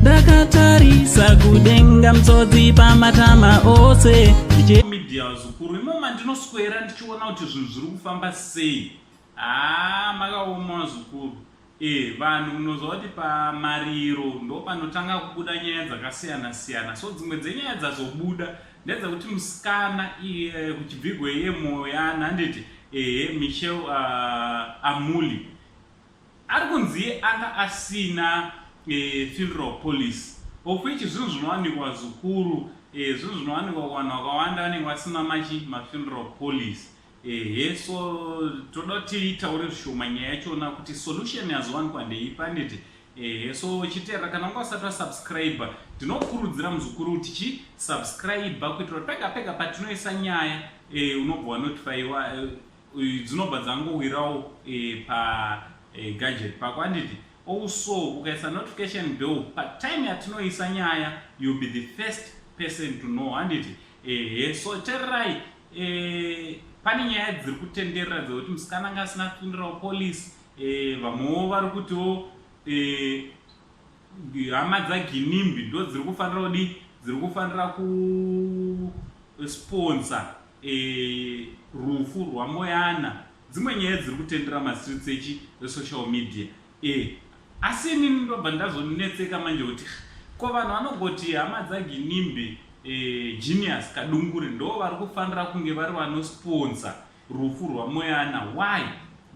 ndakatarisa kudenga mtsodzi pamatama ose media zukuru imoma ndinoswera ndichiona kuti zvinhu zviri kufamba sei haa ah, makaoma zukuru Eh, vanhu munoziva kuti pamariro ndopanotanga kubuda nyaya dzakasiyana siyana so dzimwe dzenyaya dzazobuda ndedzakuti musikana iye kuchibvigwe iye moyana handiti ehe michel uh, ah, amuli ari kunzi iye anga asina e, funeral police of which zvinhu zvinowanikwa zvikuru e, zvinhu zvinowanikwa kuvanhu vakawanda vanenge vasina machi mafuneral police ehe so toda kuti itaure zvishoma nyaya yachona kuti solution yazowanikwa ndeiyi panditi ehe so chitera kana unga usati wasubscribe ndinokurudzira muzukuru kuti chi subscribe kuitira pega pega patinoisa nyaya e, unobva wanotifaiwa e, dzinobva dzangowirawo e, pa e, gadget pako anditi also ukaisa notification bell patime yatinoisa nyaya youll be the first person to know handiti ehe so tererai eh, pane nyaya dziri kutenderera dzekuti musikana anga asina kupindirawo polisi eh, vamwewo vari kutiwo eh, hama dzaginimbi ndo dziri kufanira kudi dziri kufanira kusponsa eh, rufu rwamoyana dzimwe nyaya dziri kutendera mastreets echi esocial media Eh, asi ini ndobva ndazonetseka manje kuti ko vanhu vanogoti hama dzaginimbe eh, genius kadungure ndo vari kufanira kunge vari vanosponsa rufu rwamoyana why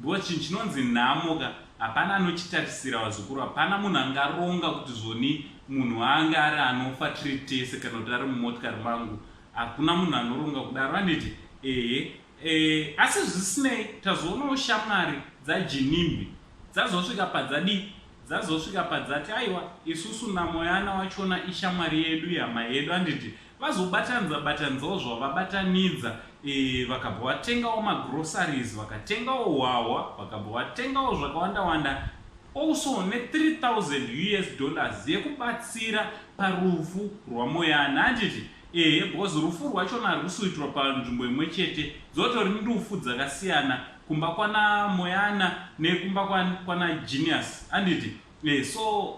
because chinhu chinonzi nhamo ka hapana anochitarisira vazukuru hapana munhu angaronga kuti zvoni munhu waanga ari anofa tiri tese kana kuti ari mumotikari mangu hakuna munhu anoronga kudaro aniti ehe E, asi zvisinei tazoonawo shamwari dzaJinimbi dzazosvika padzadii dzazosvika padzati aiwa isusu naMoyana wachona ishamwari yedu ihama yedu anditi vazobatanidza batanidzawo zvavabatanidza e, vakabva vatengawo magroceries vakatengawo hwahwa vakabva vatengawo zvakawanda wanda also ne3000 us dollars yekubatsira parufu rwaMoyana anditi Ehe because rufu rwachona harwusi kuitirwa panzvimbo imwe chete. Dzotori ndufu dzakasiyana kumba kwana Moyana nekumba kwana Genius handiti? Eh so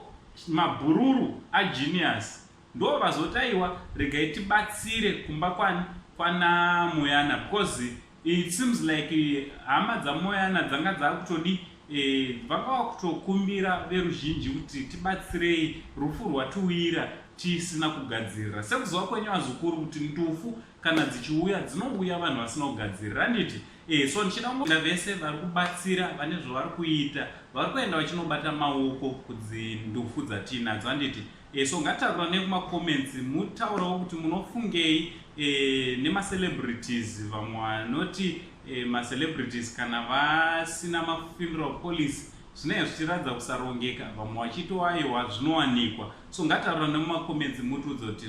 mabhururu a Genius ndo vazoti aiwa regai tibatsire kumba kwani kwana Moyana because It seems like eh, hama dzamoyana dzanga dzakutodi eh, vanga vakutokumbira veruzhinji kuti tibatsirei rufu rwatiwira tisina kugadzirira sekuzova kwenyu vazukuru kuti ndufu kana dzichiuya dzinouya vanhu vasina kugadzirira handiti e, so ndichida kungoda vese vari kubatsira vane zvavari kuita vari kuenda vachinobata maoko kudzindufu dzatiinadzo handiti Eh, so ngatitauranei kumacomments mutaurawo kuti munofungei eh, nemacelebrities vamwe vanoti eh, macelebrities kana vasina mafuneral policy zvinenge zvichiratidza kusarongeka vamwe vachito aiwa zvinowanikwa so ngataura nemumacomments mutiudza kuti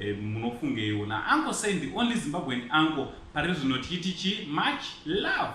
eh, munofungeiwo naanko sendi only zimbabwean anko pari zvino tichiti chi much love